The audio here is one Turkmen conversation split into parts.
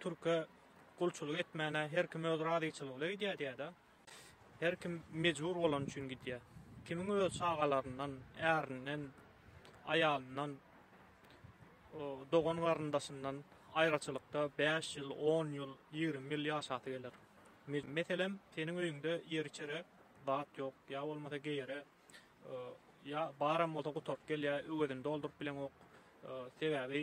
Türke gulçulyk etmäne her kim öz razyçylygy bilen gidýär diýýär-de. Her kim mejbur bolany üçin gidýär. Kimiň öz çagalaryndan, ärinden, aýalyndan, dogan-garyndaşyndan aýraçylykda bäş ýyl, on ýyl, ýigrimi ýyl ýaşasy geler. Meselem, seniň öýüňde ýer-içere zat ýok, ýa bolmasa geýere, ýa baram bolsa gutaryp gelýär, öwezini dolduryp bileňok. Sebäbi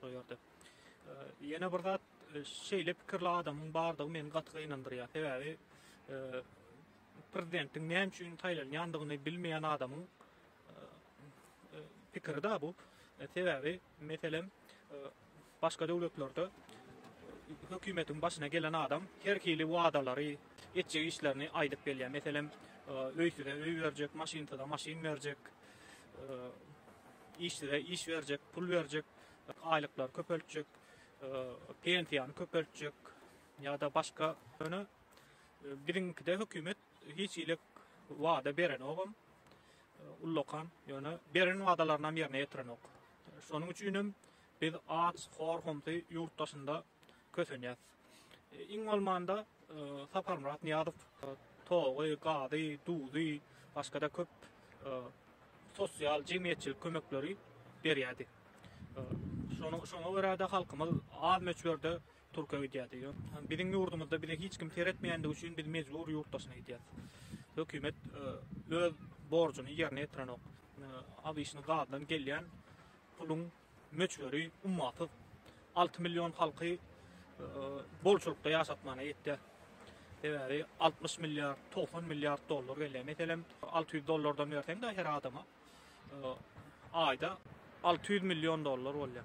Şol ýerde. Ýene bir zat, şeýle pikirli adamyň bardygy meni gaty gynandyrýar. Sebäbi prezidentiň näme üçin saýlanýandygyny bilmeýän adamyň pikiri da bu. Sebäbi, meselem, başga döwletlerde hökümetiň başyna gelen adam her hili wadalary, etjek işlerini aýdyp gelýär. Meselem, öýsüze öý berjek, maşynsyza maşyn berjek. Işsizä iş berjek, pul berjek, aýlyklary köpeltjek, pensiýany köpeltjek ýa-da başga. Ýöne biziňkide hökümet hiç hili wada berenogam, ullakan. Ýöne beren wadalaryny hem ýerine ýetirenok. Şonuň üçin hem biz aç, hor-homsy ýurt daşynda Kösenýäs. Iň bolmanda Saparmyrat Nyýazow togy, gazy, duzy, başga-da köp sosial, jemgyýetçilik kömekleri berýärdi. Şoňa görä-de halkymyz az möçberde Türkiýe gidýärdi. Biziň ýurdumyzda bize hiç kim seretmeýändigi üçin biz mejbur ýurt daşyna gidýäs. Hökümet öz borjuny ýerine ýetirenok. Abyşnyň gazydan gelýän puluň möçberi ummasyz alty million halky bolçulykda ýaşatmana ýetýär. Sebäbi altmyş milliard, togsan milliard dollar gelýär. Meselem, alty ýüz dollardan berseň-de her adama aýda alty ýüz million dollar bolýar.